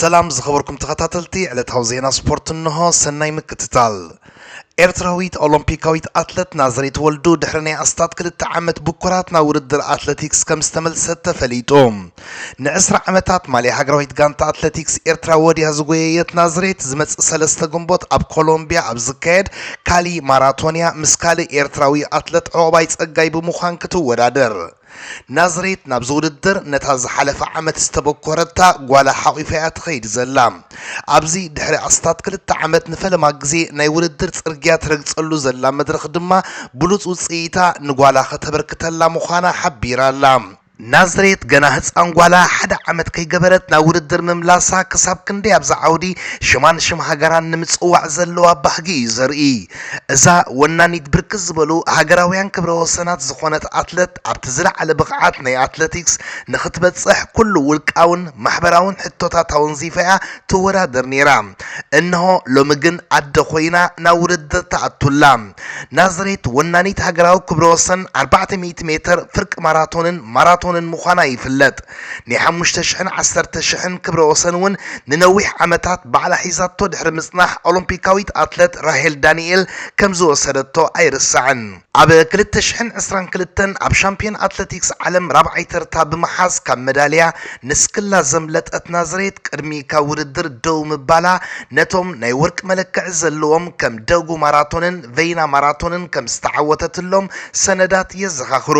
ሰላም ዝኸበርኩም ተኸታተልቲ ዕለታዊ ዜና ስፖርት እንሆ፣ ሰናይ ምክትታል። ኤርትራዊት ኦሎምፒካዊት ኣትለት ናዝሬት ወልዱ ድሕሪ ናይ ኣስታት ክልተ ዓመት ብኩራት ናብ ውድድር ኣትለቲክስ ከም ዝተመልሰት ተፈሊጡ። ንዕስራ ዓመታት ማልያ ሃገራዊት ጋንታ ኣትለቲክስ ኤርትራ ወድያ ዝጎየየት ናዝሬት ዝመጽእ ሰለስተ ግንቦት ኣብ ኮሎምቢያ ኣብ ዝካየድ ካሊ ማራቶንያ ምስ ካልእ ኤርትራዊ ኣትለት ዑቕባይ ጸጋይ ብምዃን ክትወዳደር ናዝሬት ናብዚ ውድድር ነታ ዝሓለፈ ዓመት ዝተበኮረታ ጓላ ሓቚፋ እያ ትኸይድ ዘላ። ኣብዚ ድሕሪ ኣስታት ክልተ ዓመት ንፈለማ ግዜ ናይ ውድድር ጽርግያ ትረግጸሉ ዘላ መድረኽ ድማ ብሉጽ ውጽኢታ ንጓላ ከተበርክተላ ምዃና ሓቢራ'ላ። ናዝሬት ገና ህጻን ጓላ ሓደ ዓመት ከይገበረት ናብ ውድድር ምምላሳ ክሳብ ክንደይ ኣብዛ ዓውዲ ሽማን ሽም ሃገራን ንምጽዋዕ ዘለዋ ባህጊ እዩ ዘርኢ። እዛ ወናኒት ብርክት ዝበሉ ሃገራውያን ክብረ ወሰናት ዝኾነት ኣትለት ኣብቲ ዝለዓለ ብቕዓት ናይ ኣትለቲክስ ንኽትበፅሕ ኩሉ ውልቃውን ማሕበራውን ሕቶታት ኣወንዚፋ'ያ ትወዳደር ነይራ። እንሆ ሎሚ ግን ኣደ ኮይና ናብ ውድድር ትኣቱ ኣላ። ናዝሬት ወናኒት ሃገራዊ ክብረ ወሰን ኣርባዕተ ሚእቲ ሜትር፣ ፍርቂ ማራቶንን ማራቶንን ምዃና ይፍለጥ። ናይ ሓሙሽተ ሽሕን ዓሰርተ ሽሕን ክብረ ወሰን'ውን ንነዊሕ ዓመታት ባዕላ ሒዛቶ ድሕሪ ምጽናሕ ኦሎምፒካዊት ኣትለት ራሄል ዳንኤል ከም ዝወሰደቶ ኣይርሳዕን። ኣብ ክልተ ሽሕን ዕስራን ክልተን ኣብ ሻምፕዮን ኣትለቲክስ ዓለም ራብዓይ ተርታ ብምሓዝ ካብ መዳልያ ንስክላ ዘምለጠት ናዝሬት ቅድሚ ካብ ውድድር ደው ምባላ ነቶም ናይ ወርቂ መለክዒ ዘለዎም ከም ደጉ ማራቶንን ቨይና ማራቶንን ከም ዝተዓወተትሎም ሰነዳት የዘኻኽሩ።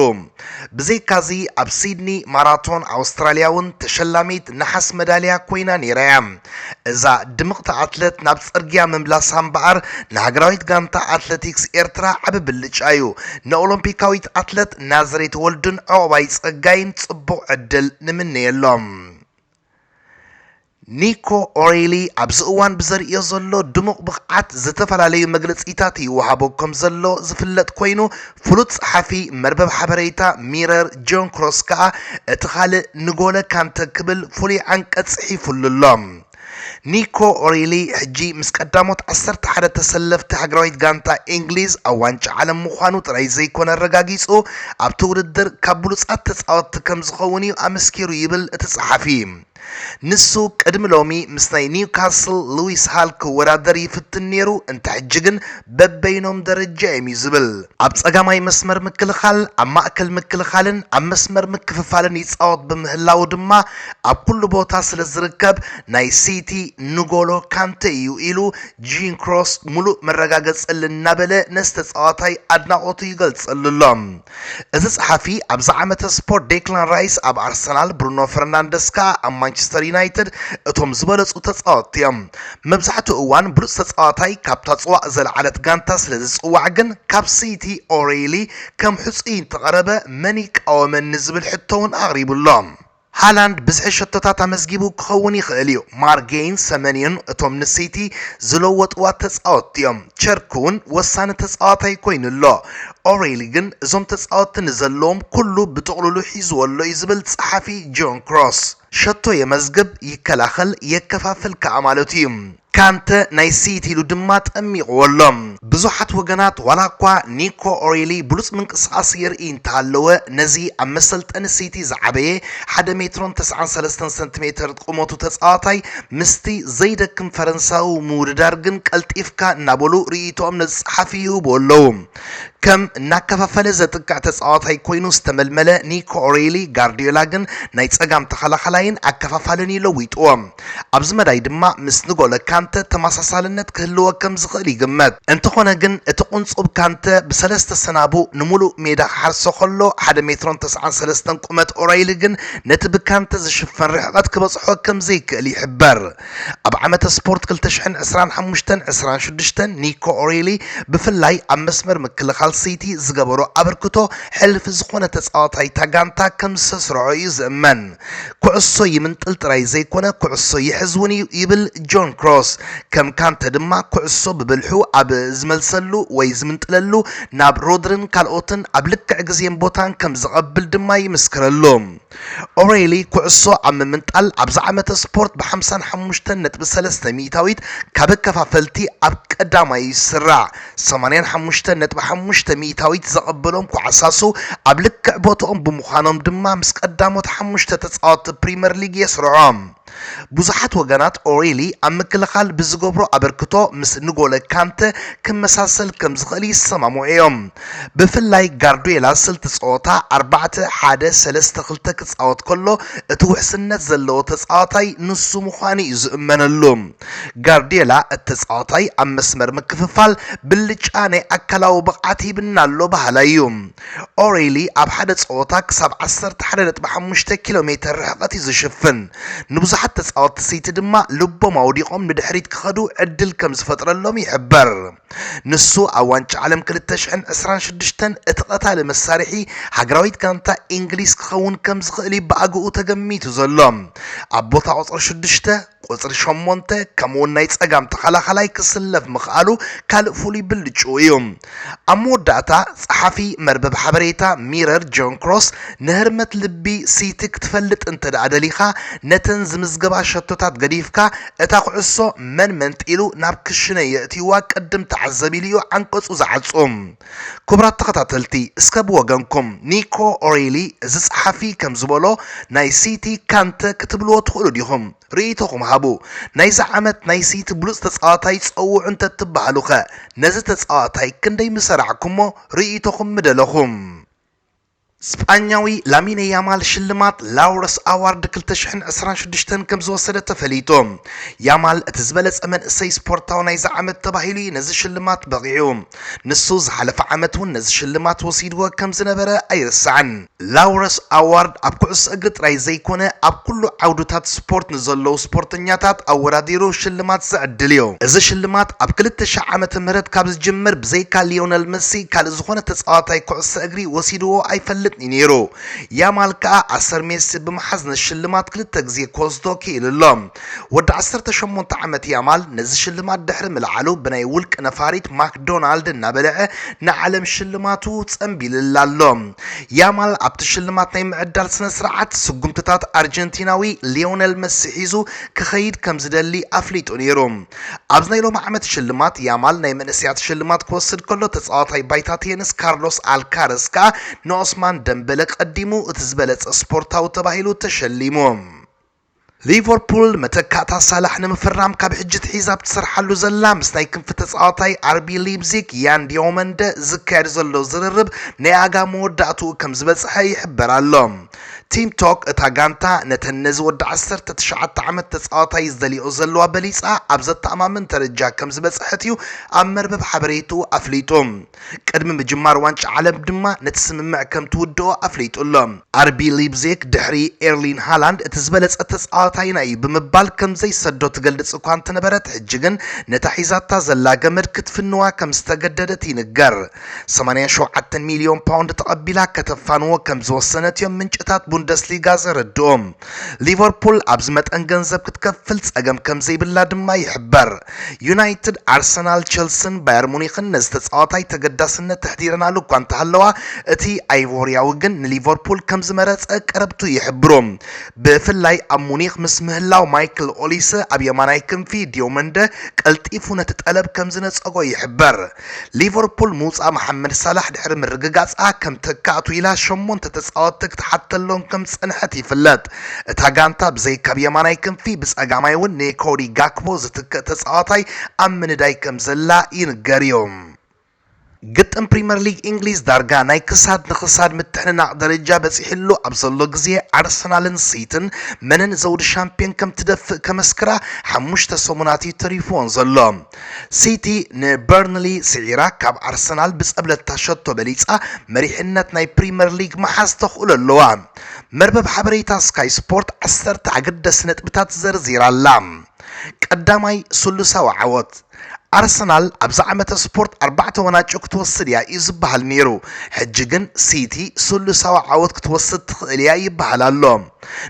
ብዘይካ'ዚ ኣብ ሲድኒ ማራቶን ኣውስትራልያ'ውን ተሸላሚት ነሓስ መዳልያ ኰይና ነይራ'ያ። እዛ ድምቕቲ ኣትለት ናብ ጽርግያ ምምላሳ እምበኣር ንሃገራዊት ጋንታ ኣትለቲክስ ኤርትራ ዓቢ ብልጫ'ዩ። ንኦሎምፒካዊት ኣትለት ናዝሬት ወልዱን ዑቕባይ ጸጋይን ጽቡቕ ዕድል ንምነየሎም። ኒኮ ኦሪሊ ኣብዚ እዋን ብዘርእዮ ዘሎ ድሙቕ ብቕዓት ዝተፈላለዩ መግለጺታት ይወሃቦ ከምዘሎ ዝፍለጥ ኮይኑ፣ ፍሉጥ ጸሓፊ መርበብ ሓበሬታ ሚረር ጆን ክሮስ ከኣ እቲ ካልእ ንጎለ ካንተ ክብል ፍሉይ ዓንቀጽ ጽሒፉሉ ኣሎ። ኒኮ ኦሪሊ ሕጂ ምስ ቀዳሞት ዓሰርተ ሓደ ተሰለፍቲ ሃገራዊት ጋንታ ኢንግሊዝ ኣብ ዋንጫ ዓለም ምዃኑ ጥራይ ዘይኮነ ኣረጋጊጹ ኣብቲ ውድድር ካብ ብሉጻት ተጻወትቲ ከምዝኸውን'ዩ ኣመስኪሩ ይብል እቲ ጸሓፊ። ንሱ ቅድሚ ሎሚ ምስ ናይ ኒውካስል ሉዊስ ሃል ክወዳደር ይፍትን ነይሩ፣ እንተ ሕጂ ግን በበይኖም ደረጃ እዮም'ዩ ዝብል። ኣብ ጸጋማይ መስመር ምክልኻል፣ ኣብ ማእከል ምክልኻልን ኣብ መስመር ምክፍፋልን ይጻወት ብምህላዉ ድማ ኣብ ኩሉ ቦታ ስለ ዝርከብ ናይ ሲቲ ንጎሎ ካንተ እዩ ኢሉ ጂን ክሮስ ምሉእ መረጋገጸሊ እናበለ ነዚ ተጻዋታይ ኣድናቖቱ ይገልጸሉ ኣሎ። እቲ ጸሓፊ ኣብዚ ዓመተ ስፖርት ዴክላን ራይስ ኣብ ኣርሰናል፣ ብሩኖ ፈርናንደስ ከኣ ኣብ ማንቸስተር ዩናይትድ እቶም ዝበለጹ ተጻወትቲ እዮም። መብዛሕትኡ እዋን ብሉጽ ተጻዋታይ ካብታ ጽዋእ ዘለዓለት ጋንታ ስለ ዝጽዋዕ ግን ካብ ሲቲ ኦሬይሊ ከም ሕጹይ እንተቐረበ መን ይቃወመኒ ዝብል ሕቶ'ውን ኣቕሪቡ ኣሎ። ሃላንድ ብዝሒ ሸቶታት ኣመዝጊቡ ክኸውን ይኽእል'ዩ፣ ማርጌይን ሰመንዮን እቶም ንሲቲ ዝለወጥዋ ተጻወትቲ'ዮም፣ ቸርኪ'ውን ወሳኒ ተጻዋታይ ኮይኑ ኣሎ። ኦሬሊ ግን እዞም ተጻወትቲ ንዘለዎም ኩሉ ብጥቕሉሉ ሒዝዎ ኣሎ'ዩ ዝብል ጸሓፊ ጆን ክሮስ፣ ሸቶ የመዝግብ፣ ይከላኸል፣ የከፋፍል ከኣ ማለቱ'ዩ። ካንተ ናይ ስይት ኢሉ ድማ ጠሚቕዎ ኣሎ። ብዙሓት ወገናት ዋላኳ ኒኮ ኦሪሊ ብሉጽ ምንቅስቓስ የርእይ እንተሃለወ ነዚ ኣብ መሰልጠኒ ስይቲ ዝዓበየ ሓደ ሜትሮን ተስዓን ሰለስተን ሰንቲሜተር ቁመቱ ተጻዋታይ ምስቲ ዘይደክም ፈረንሳዊ ምውድዳር ግን ቀልጢፍካ እናበሉ ርእይቶኦም ነዚ ጸሓፊ ይህቡ ኣለዉ። ከም እናከፋፈለ ዘጥቅዕ ተጻዋታይ ኮይኑ ዝተመልመለ ኒኮ ኦሪሊ ጋርድዮላ ግን ናይ ጸጋም ተኸላኻላይን ኣከፋፋልን ኢዩ ለዊጥዎ። ኣብዚ መዳይ ድማ ምስ ንጎለ ካንተ ተመሳሳልነት ክህልዎ ከም ዝኽእል ይግመት። እንተኾነ ግን እቲ ቁንጹብ ካንተ ብሰለስተ ሰናቡ ንምሉእ ሜዳ ክሓርሶ ከሎ፣ ሓደ ሜትሮን ተስዓን ሰለስተን ቁመት ኦራይሊ ግን ነቲ ብካንተ ዝሽፈን ርሕቐት ክበጽሖ ከም ዘይክእል ይሕበር። ኣብ ዓመተ ስፖርት ክልተ ሽሕን ዕስራን ሓሙሽተን ዕስራን ሽዱሽተን ኒኮ ኦራይሊ ብፍላይ ኣብ መስመር ምክልኻል ሲቲ ዝገበሮ ኣበርክቶ ሕልፍ ዝኾነ ተጻዋታይ'ታ ጋንታ ከም ዝሰስረዖ እዩ ዝእመን። ኩዕሶ ይምንጥል ጥራይ ዘይኮነ ኩዕሶ ይሕዝ እውን እዩ ይብል ጆን ክሮስ። ከም ካንተ ድማ ኩዕሶ ብብልሑ ኣብ ዝመልሰሉ ወይ ዝምንጥለሉ ናብ ሮድሪን ካልኦትን ኣብ ልክዕ ግዜን ቦታን ከም ዘቐብል ድማ ይምስክረሉ። ኦሬሊ ኩዕሶ ኣብ ምምንጣል ኣብዚ ዓመተ ስፖርት ብ55 ነጥቢ ሰለስተ ሚእታዊት ካብ ኣከፋፈልቲ ኣብ ቀዳማይ ይስራዕ። ሰማንያን ሓሙሽተን ነጥቢ ሓሙሽተ ሚኢታዊት ዘቐበሎም ኳዕሳሱ ኣብ ልክዕ ቦትኦም ብምዃኖም ድማ ምስ ቀዳሞት ሓሙሽተ ተጻወትቲ ፕሪምየር ሊግ የስርዖም። ብዙሓት ወገናት ኦሪሊ ኣብ ምክልኻል ብዝገብሮ ኣበርክቶ ምስ ንጎለ ካንተ ክመሳሰል ከም ዝኽእል ይሰማምዑ እዮም። ብፍላይ ጋርድዮላ ስልቲ ጸወታ ኣርባዕተ ሓደ ሰለስተ ክልተ ክጻወት ከሎ እቲ ውሕስነት ዘለዎ ተጻዋታይ ንሱ ምዃኑ እዩ ዝእመነሉ። ጋርድየላ እቲ ተጻዋታይ ኣብ መስመር ምክፍፋል ብልጫ ናይ ኣካላዊ ብቕዓት ሂብና ኣሎ በሃላይ እዩ። ኦሬሊ ኣብ ሓደ ጸወታ ክሳብ ዓሰርተ ሓደ ነጥቢ ሓሙሽተ ኪሎ ሜተር ርሕቐት እዩ ዝሽፍን፣ ንብዙሓት ተጻወትቲ ሲቲ ድማ ልቦም ኣውዲቖም ንድሕሪት ክኸዱ ዕድል ከም ዝፈጥረሎም ይሕበር። ንሱ ኣብ ዋንጫ ዓለም ክልተ ሽሕን ዕስራን ሽዱሽተን እቲ ቀታሊ መሳርሒ ሃገራዊት ጋንታ ኢንግሊዝ ክኸውን ከም ዝኽእል እዩ ብኣግኡ ተገሚቱ ዘሎ። ኣብ ቦታ ቁጽሪ ሽዱሽተ ቁጽሪ ሸሞንተ ከምኡ'ውን ናይ ጸጋም ተኸላኻላይ ክስለፍ ምኽኣሉ ካልእ ፍሉይ ብልጭኡ እዩ። ኣብ መወዳእታ፣ ጸሓፊ መርበብ ሓበሬታ ሚረር ጆን ክሮስ፣ ንህርመት ልቢ ሲቲ ክትፈልጥ እንተድኣ ደሊኻ፣ ነተን ዝምዝገባ ሸቶታት ገዲፍካ፣ እታ ኩዕሶ መን መንጢሉ ናብ ክሽነ የእትዩዋ ቅድም ተዓዘብ ኢሉ እዩ ዓንቀጹ ዝዓጹ። ክቡራት ተኸታተልቲ እስከ ብወገንኩም ኒኮ ኦሬሊ እዚ ጸሓፊ ከም ዝበሎ ናይ ሲቲ ካንተ ክትብልዎ ትኽእሉ ዲኹም? ርእይቶኹም ሃቡ። ናይዚ ዓመት ናይ ሲቲ ብሉጽ ተጻዋታይ ጸውዑ እንተትበሃሉኸ ነዚ ተጻዋታይ ክንደይ ምሰራዕኩሞ? ርእይቶኹም ምደለኹ። ስጳኛዊ ላሚነ ያማል ሽልማት ላውረስ ኣዋርድ ክልተ ሽሕን ዕስራን ሽዱሽተን ከምዝወሰደ ተፈሊጡ። ያማል እቲ ዝበለጸ መንእሰይ ስፖርታዊ ናይዚ ዓመት ተባሂሉ እዩ ነዚ ሽልማት በቒዑ። ንሱ ዝሓለፈ ዓመት እውን ነዚ ሽልማት ወሲድዎ ከምዝነበረ ኣይርሳዕን። ላውረስ ኣዋርድ ኣብ ኩዕሶ እግሪ ጥራይ ዘይኮነ ኣብ ኩሉ ዓውድታት ስፖርት ንዘለዉ ስፖርተኛታት ኣወዳዲሩ ሽልማት ዝዕድል እዩ። እዚ ሽልማት ኣብ ክልተ ሽሕ ዓመተ ምህረት ካብ ዝጅምር ብዘይካ ሊዮነል መሲ ካልእ ዝኾነ ተጻዋታይ ኩዕሶ እግሪ ሜሲ ወሲድዎ ኣይፈልጥን'ዩ ነይሩ። ያማል ከኣ ኣሰር ሜሲ ብምሓዝ ንሽልማት ክልተ ግዜ ክወስዶ ክኢሉ ኣሎ። ወዲ ዓሰርተ ሸሞንተ ዓመት ያማል ነዚ ሽልማት ድሕሪ ምልዓሉ ብናይ ውልቀ ነፋሪት ማክዶናልድ እናበልዐ ንዓለም ሽልማቱ ጸምቢልላ ኣሎ። ያማል ኣብቲ ሽልማት ናይ ምዕዳል ስነ-ስርዓት ስጉምትታት ኣርጀንቲናዊ ሊዮነል መሲ ሒዙ ክኸይድ ከምዝደሊ ኣፍሊጡ ነይሩ። ኣብዚ ናይ ሎሚ ዓመት ሽልማት፣ ያማል ናይ መንእሰያት ሽልማት ክወስድ ከሎ፣ ተጻዋታይ ባይታ ቴንስ ካርሎስ ኣልካረዝ ከኣ ንኦስማን ደምበለ ቀዲሙ እቲ ዝበለጸ ስፖርታዊ ተባሂሉ ተሸሊሙ። ሊቨርፑል መተካእታ ሳላሕ ንምፍራም ካብ ሕጂ ኣትሒዛ ኣብ ትሰርሓሉ ዘላ ምስ ናይ ክንፊ ተጻዋታይ ኣርቢ ሊፕዚግ ያን ዲዮመንደ ዝካየድ ዘሎ ዝርርብ ናይ ኣጋ መወዳእትኡ ከም ዝበጽሐ ይሕበር ኣሎ። ቲም ቶክ እታ ጋንታ ነተን ነዚ ወዲ ዓሰርተ ትሽዓተ ዓመት ተጻዋታይ ዝደልይኦ ዘለዋ በሊጻ ኣብ ዘተኣማምን ደረጃ ከምዝበጸሐት'ዩ ኣብ መርበብ ሓበሬትኡ ኣፍሊጡ። ቅድሚ ምጅማር ዋንጫ ዓለም ድማ ነቲ ስምምዕ ከምትውድኦ ኣፍሊጡ ኣሎ። ኣርቢ ሊፕዚግ ድሕሪ ኤርሊን ሃላንድ እቲ ዝበለጸ ተጻዋታይና እዩ ብምባል ከምዘይሰዶ ትገልጽ እኳ እንተነበረት ሕጂ ግን ነታ ሒዛታ ዘላ ገመድ ክትፍንዋ ከምዝተገደደት ይንገር። 87 ሚልዮን ፓውንድ ተቐቢላ ከተፋንዎ ከም ዝወሰነት እዮም ምንጭታት ቡንደስሊጋ ዘረድኡ። ሊቨርፑል ኣብዚ መጠን ገንዘብ ክትከፍል ጸገም ከም ዘይብላ ድማ ይሕበር። ዩናይትድ፣ ኣርሰናል፣ ቸልስን ባየር ሙኒክን ነዚ ተጻዋታይ ተገዳስነት ተሕዲረናሉ እኳ እንተሃለዋ፣ እቲ ኣይቮርያዊ ግን ንሊቨርፑል ከም ዝመረጸ ቀረብቱ ይሕብሩ። ብፍላይ ኣብ ሙኒክ ምስ ምህላው ማይክል ኦሊሰ ኣብ የማናይ ክንፊ፣ ዲዮመንደ ቀልጢፉ ነቲ ጠለብ ከም ዝነጸጎ ይሕበር። ሊቨርፑል ምውጻእ መሓመድ ሳላሕ ድሕሪ ምርግጋጻ ከም ተካእቱ ኢላ ሸሞንተ ተጻወትቲ ክትሓተሎም ከም ዝጸንሐት ይፍለጥ። እታ ጋንታ ብዘይ ካብ የማናይ ክንፊ ብጸጋማይ እውን ንኮዲ ጋክፖ ዝትክእ ተጻዋታይ ኣብ ምንዳይ ከም ዘላ ይንገር'ዩ። ግጥም ፕሪመር ሊግ እንግሊዝ ዳርጋ ናይ ክሳድ ንኽሳድ ምትሕንናቕ ደረጃ በጺሕሉ ኣብ ዘሎ ግዜ ኣርሰናልን ሲትን መነን ዘውዲ ሻምፕዮን ከም ትደፍእ ከመስክራ ሓሙሽተ ሰሙናት እዩ ተሪፍዎን ዘሎ። ሲቲ ንበርንሊ ስዒራ ካብ ኣርሰናል ብጸብለልታ ሸቶ በሊጻ መሪሕነት ናይ ፕሪምየር ሊግ ምሓዝ ተኽእሎ ኣለዋ። መርበብ ሓበሬታ ስካይ ስፖርት ዓሰርተ ኣገደስቲ ነጥብታት ዘርዚራ ኣላ። ቀዳማይ ስሉሳዊ ዓወት ኣርሰናል ኣብዚ ዓመተ ስፖርት ኣርባዕተ ወናጭ ክትወስድ እያ እዩ ዝበሃል ነይሩ። ሕጂ ግን ሲቲ ስሉሳዊ ዓወት ክትወስድ ትኽእል እያ ይበሃል ኣሎ።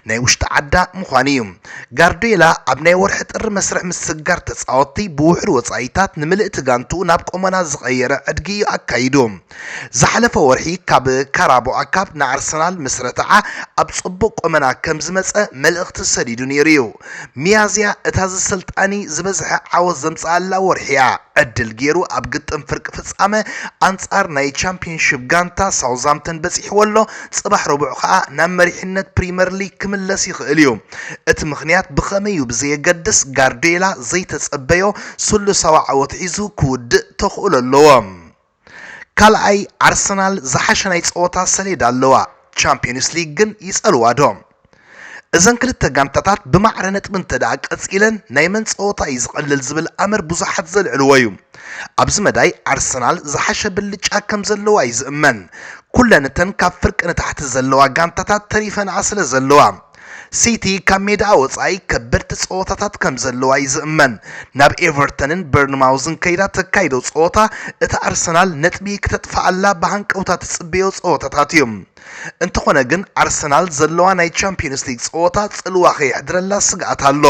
ናይ ውሽጢ ዓዳ ምዃን እዩ። ጋርድዮላ ኣብ ናይ ወርሒ ጥሪ መስርሕ ምስግጋር ተጻወትቲ ብውሑድ ወጻኢታት ንምልእቲ ጋንትኡ ናብ ቆመና ዝቐየረ ዕድጊ እዩ ኣካይዱ። ዝሓለፈ ወርሒ ካብ ካራቦኣ ካፕ ንኣርሰናል ምስ ረተዓ ኣብ ጽቡቕ ቆመና ከምዝመጸ መልእኽቲ ሰዲዱ ነይሩ እዩ። ሚያዝያ እታ ዝስልጣኒ ዝበዝሐ ዓወት ዘምጽኣላ ወርሒ'ያ። ዕድል ጌሩ ኣብ ግጥም ፍርቂ ፍጻመ ኣንጻር ናይ ቻምፕዮንሺፕ ጋንታ ሳውዝሃምተን በጺሕዎ'ሎ፣ ጽባሕ ረቡዕ ከኣ ናብ መሪሕነት ፕሪመር ሊግ ክምለስ ይኽእል'ዩ። እቲ ምኽንያት ብኸመይ'ዩ ብዘየገድስ ጋርድዮላ ዘይተጸበዮ ስሉሳዊ ዓወት ሒዙ ክውድእ ተኽእሎ ኣለዎ። ካልኣይ ኣርሰናል ዝሓሸ ናይ ጸወታ ሰሌዳ ኣለዋ፣ ቻምፕዮንስ ሊግ ግን ይጸልዋ ዶ? እዘን ክልተ ጋንታታት ብማዕረ ነጥቢ እንተድኣ ቀጺለን ናይ መን ጸወታ እዩ ዝቐልል ዝብል ኣምር ብዙሓት ዘልዕልዎ እዩ። ኣብዚ መዳይ ኣርሰናል ዝሓሸ ብልጫ ከም ዘለዋ እዩ ዝእመን፣ ኩለን እተን ካብ ፍርቂ ንታሕቲ ዘለዋ ጋንታታት ተሪፈንኣ ስለ ዘለዋ። ሲቲ ካብ ሜዳኣ ወጻኢ ከበድቲ ጸወታታት ከም ዘለዋ'ዩ ዝእመን። ናብ ኤቨርተንን በርንማውዝን ከይዳ ተካይዶ ጸወታ እታ ኣርሰናል ነጥቢ ክተጥፍኣላ ብሃንቀውታ ትጽበዮ ጸወታታት'ዩ። እንተኾነ ግን ኣርሰናል ዘለዋ ናይ ቻምፕዮንስ ሊግ ጸወታ ጽልዋ ከየሕድረላ ስግኣት ኣሎ።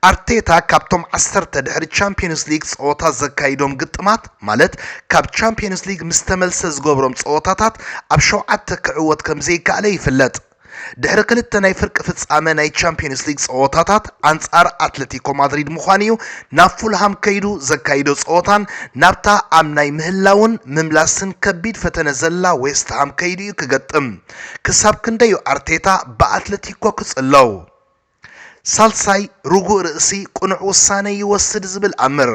ኣርቴታ ካብቶም ዓሰርተ ድሕሪ ቻምፕዮንስ ሊግ ጸወታ ዘካይዶም ግጥማት ማለት ካብ ቻምፕዮንስ ሊግ ምስ ተመልሰ ዝገብሮም ጸወታታት ኣብ ሸውዓተ ክዕወት ከም ዘይከኣለ ይፍለጥ። ድሕሪ ክልተ ናይ ፍርቂ ፍጻመ ናይ ቻምፕዮንስ ሊግ ጸወታታት ኣንጻር ኣትለቲኮ ማድሪድ ምዃኑ'ዩ ናብ ፉልሃም ከይዱ ዘካይዶ ጸወታን ናብታ ኣብ ናይ ምህላውን ምምላስን ከቢድ ፈተነ ዘላ ዌስትሃም ከይዱ'ዩ ክገጥም። ክሳብ ክንደይ'ዩ ኣርቴታ ብኣትለቲኮ ክጽለው? ሳልሳይ ርጉእ ርእሲ ቅኑዕ ውሳነ ይወስድ ዝብል ኣምር።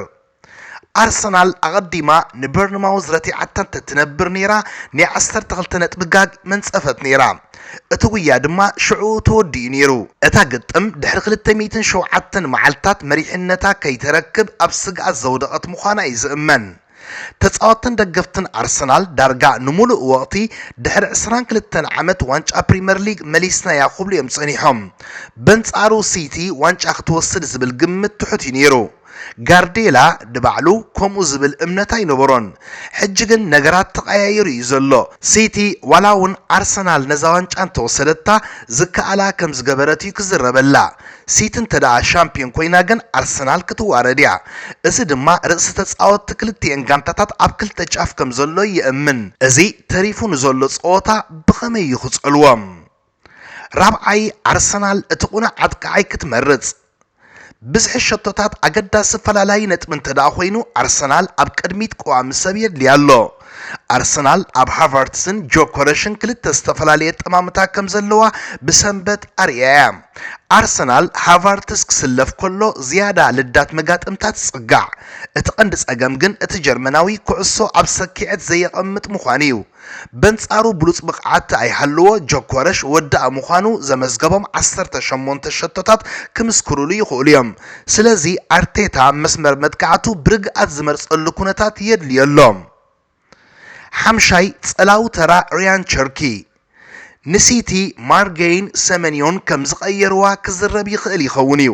ኣርሰናል ኣቐዲማ ንበርንማውዝ ረቲዓታ እንተትነብር ነይራ ናይ ዓሰርተ ክልተ ነጥቢ ጋግ መንጸፈት ነይራ። እቲ ጉያ ድማ ሽዕኡ ተወዲኡ ነይሩ። እታ ግጥም ድሕሪ ክልተ ሚእትን ሸውዓተን መዓልታት መሪሕነታ ከይተረክብ ኣብ ስግኣት ዘውደቐት ምዃና እዩ ዝእመን። ተጻወትን ደገፍትን ኣርሰናል ዳርጋ ንምሉእ ወቕቲ ድሕሪ ዕስራን ክልተን ዓመት ዋንጫ ፕሪመር ሊግ መሊስናያ ክብሉ እዮም ጸኒሖም። በንጻሩ ሲቲ ዋንጫ ክትወስድ ዝብል ግምት ትሑት እዩ ነይሩ። ጋርድየላ ንባዕሉ ከምኡ ዝብል እምነት ኣይነበሮን። ሕጂ ግን ነገራት ተቐያይሩ እዩ ዘሎ። ሲቲ ዋላ እውን ኣርሰናል ነዛ ዋንጫ እንተወሰደታ ዝከኣላ ከም ዝገበረት እዩ ክዝረበላ። ሲቲ እንተደኣ ሻምፕዮን ኮይና ግን ኣርሰናል ክትዋረድ እያ። እዚ ድማ ርእሲ ተጻወትቲ ክልቲኤን ጋንታታት ኣብ ክልተ ጫፍ ከም ዘሎ የእምን። እዚ ተሪፉ ንዘሎ ጸወታ ብኸመይ እዩ ክጸልዎ? ራብዓይ፣ ኣርሰናል እቲ ቅኑዕ ኣጥቃዓይ ክትመርጽ። ብዝሒ ሸቶታት ኣገዳሲ ፈላላዪ ነጥቢ እንተደኣ ኮይኑ ኣርሰናል ኣብ ቅድሚት ቀዋሚ ሰብ የድልያ ኣሎ። ኣርሰናል ኣብ ሃቨርትስን ጆኮረሽን ክልተ ዝተፈላለየ ጠማምታ ከም ዘለዋ ብሰንበት ኣርእያ እያ። ኣርሰናል ሃቨርትስ ክስለፍ ከሎ ዝያዳ ልዳት መጋጥምታ ትጽጋዕ። እቲ ቀንዲ ጸገም ግን እቲ ጀርመናዊ ኩዕሶ ኣብ ሰኪዔት ዘየቐምጥ ምዃኑ እዩ። በንጻሩ ብሉጽ ብቕዓት ኣይሃልዎ ጆኮረሽ ወዳኢ ምዃኑ ዘመዝገቦም ዓሰርተ ሸሞንተ ሸቶታት ክምስክርሉ ይኽእሉ እዮም። ስለዚ ኣርቴታ መስመር መጥቃዕቱ ብርግኣት ዝመርጸሉ ኩነታት የድልዮ ኣሎ። ሓምሻይ ጸላዊ ተራ ርያን ቸርኪ፣ ንሲቲ ማርገይን ሰመንዮን ከም ዝቐየርዋ ክዝረብ ይኽእል ይኸውን'ዩ።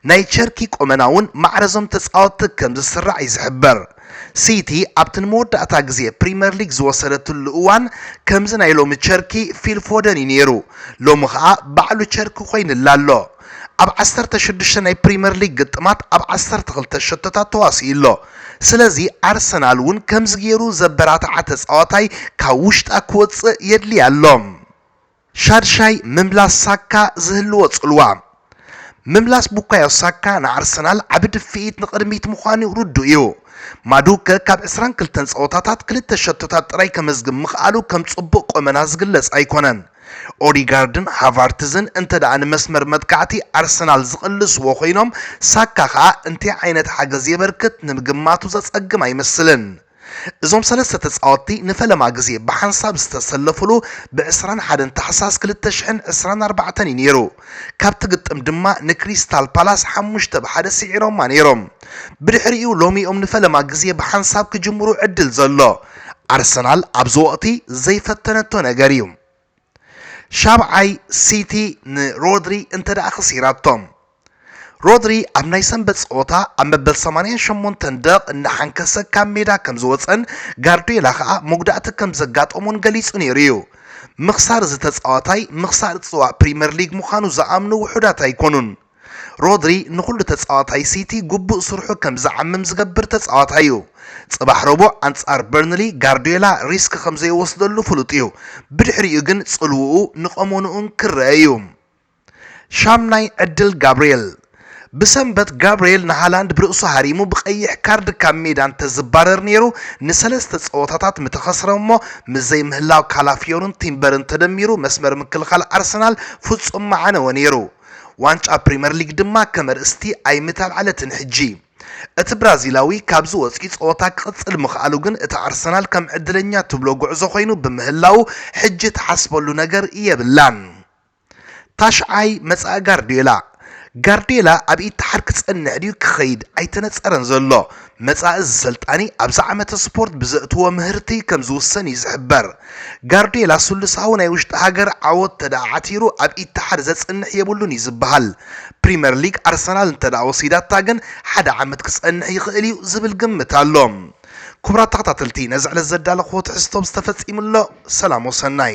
ናይ ቸርኪ ቆመና'ውን ማዕረ'ዞም ተጻወትቲ ከም ዝስራዕ'ዩ ዝሕበር። ሲቲ ኣብቲ ንመወዳእታ ግዜ ፕሪመር ሊግ ዝወሰደትሉ እዋን ከምዚ ናይ ሎሚ ቸርኪ ፊል ፎደን እዩ ነይሩ። ሎሚ ከኣ ባዕሉ ቸርኪ ኮይንላ ኣሎ። ኣብ ዓሰርተ ሽዱሽተ ናይ ፕሪመር ሊግ ግጥማት ኣብ ዓሰርተ ክልተ ሸቶታት ተዋሲኡ ኣሎ። ስለዚ ኣርሰናል እውን ከምዚ ገይሩ ዘበራትዓ ተጻዋታይ ካብ ውሽጣ ክወጽእ የድልያ ኣሎ። ሻድሻይ ምምላስ ሳካ ዝህልዎ ጽልዋ። ምምላስ ቡካዮ ሳካ ንኣርሰናል ዓቢ ድፍኢት ንቕድሚት ምዃኑ ርዱእ እዩ። ማዱከ ካብ ዕስራን ክልተን ጸወታታት ክልተ ሸቶታት ጥራይ ከመዝግብ ምኽኣሉ ከም ጽቡቕ ቈመና ዝግለጽ ኣይኰነን። ኦዲጋርድን ሃቫርትዝን እንተደኣ ንመስመር መጥቃዕቲ ኣርሰናል ዝቕልስዎ ኰይኖም ሳካ ከኣ እንታይ ዓይነት ሓገዝ የበርክት ንምግማቱ ዘጸግም ኣይመስልን። እዞም ሰለስተ ተጻወትቲ ንፈለማ ግዜ ብሓንሳብ ዝተሰለፉሉ ብ ዕስራን ሓደን ታሕሳስ ክልተ ሽሕን ዕስራን ኣርባዕተን እዩ ነይሩ። ካብቲ ግጥም ድማ ንክሪስታል ፓላስ ሓሙሽተ ብ ሓደ ስዒሮማ ነይሮም። ብድሕሪኡ ሎሚ እዮም ንፈለማ ግዜ ብሓንሳብ ክጅምሩ ዕድል ዘሎ። ኣርሰናል ኣብዚ ወቕቲ ዘይፈተነቶ ነገር እዩ። ሻብዓይ ሲቲ ንሮድሪ እንተደኣ ከሲራቶም ሮድሪ ኣብ ናይ ሰንበት ጸወታ ኣብ መበል 88 ደቕ እናሓንከሰ ካብ ሜዳ ከም ዝወጸን ጋርዲዮላ ከኣ መጉዳእቲ ከም ዘጋጠሞን ገሊጹ ነይሩ እዩ። ምኽሳር እዚ ተጻዋታይ ምኽሳር ጽዋእ ፕሪመር ሊግ ምዃኑ ዝኣምኑ ውሑዳት ኣይኮኑን። ሮድሪ ንኹሉ ተጻዋታይ ሲቲ ግቡእ ስርሑ ከም ዝዓምም ዝገብር ተጻዋታይ'ዩ። ጽባሕ ረቡዕ ኣንጻር በርንሊ ጋርድዮላ ሪስክ ከም ዘይወስደሉ ፍሉጥ'ዩ፣ ብድሕሪኡ ግን ጽልውኡ ንቀሞንኡን ክርኣ'ዩ። ሻምናይ ዕድል ጋብርኤል። ብሰንበት ጋብርኤል ንሃላንድ ብርእሱ ሃሪሙ ብቀይሕ ካርድ ካብ ሜዳ እንተዝባረር ነይሩ ንሰለስተ ጸወታታት ምተኸስረ'ሞ ምስ ዘይምህላው ካላፊዮርን ቲምበርን ተደሚሩ መስመር ምክልኻል ኣርሰናል ፍጹም ምዓነወ ነይሩ። ዋንጫ ፕሪመር ሊግ ድማ ከመርእስቲ ኣይምተልዓለትን ሕጂ። እቲ ብራዚላዊ ካብዚ ወጺኡ ጸወታ ክቕጽል ምኽኣሉ ግን እቲ ኣርሰናል ከም ዕድለኛ ትብሎ ጉዕዞ ኮይኑ ብምህላዉ ሕጂ ትሓስበሉ ነገር የብላን። ታሽዓይ መጻኢ ጋርድዮላ። ጋርድዮላ ኣብ ኢትሓድ ክጸንሕ ድዩ ክኸይድ ኣይተነጸረን ዘሎ። መጻኢ ዝሰልጣኒ ኣብዚ ዓመተ ስፖርት ብዘእትዎ ምህርቲ ከም ዝውሰን እዩ ዝሕበር። ጋርድዮላ ስሉሳዊ ናይ ውሽጢ ሃገር ዓወት ተደኣ ዓቲሩ ኣብ ኢትሓድ ዘጽንሕ የብሉን እዩ ዝበሃል። ፕሪመር ሊግ ኣርሰናል እንተደኣ ወሲዳታ ግን ሓደ ዓመት ክጸንሕ ይኽእል እዩ ዝብል ግምት ኣሎ። ኩቡራት ተኸታተልቲ ነዚ ዕለት ዘዳለኽዎ ትሕዝቶ ብዝተፈጺሙ ኣሎ። ሰላም ወሰናይ።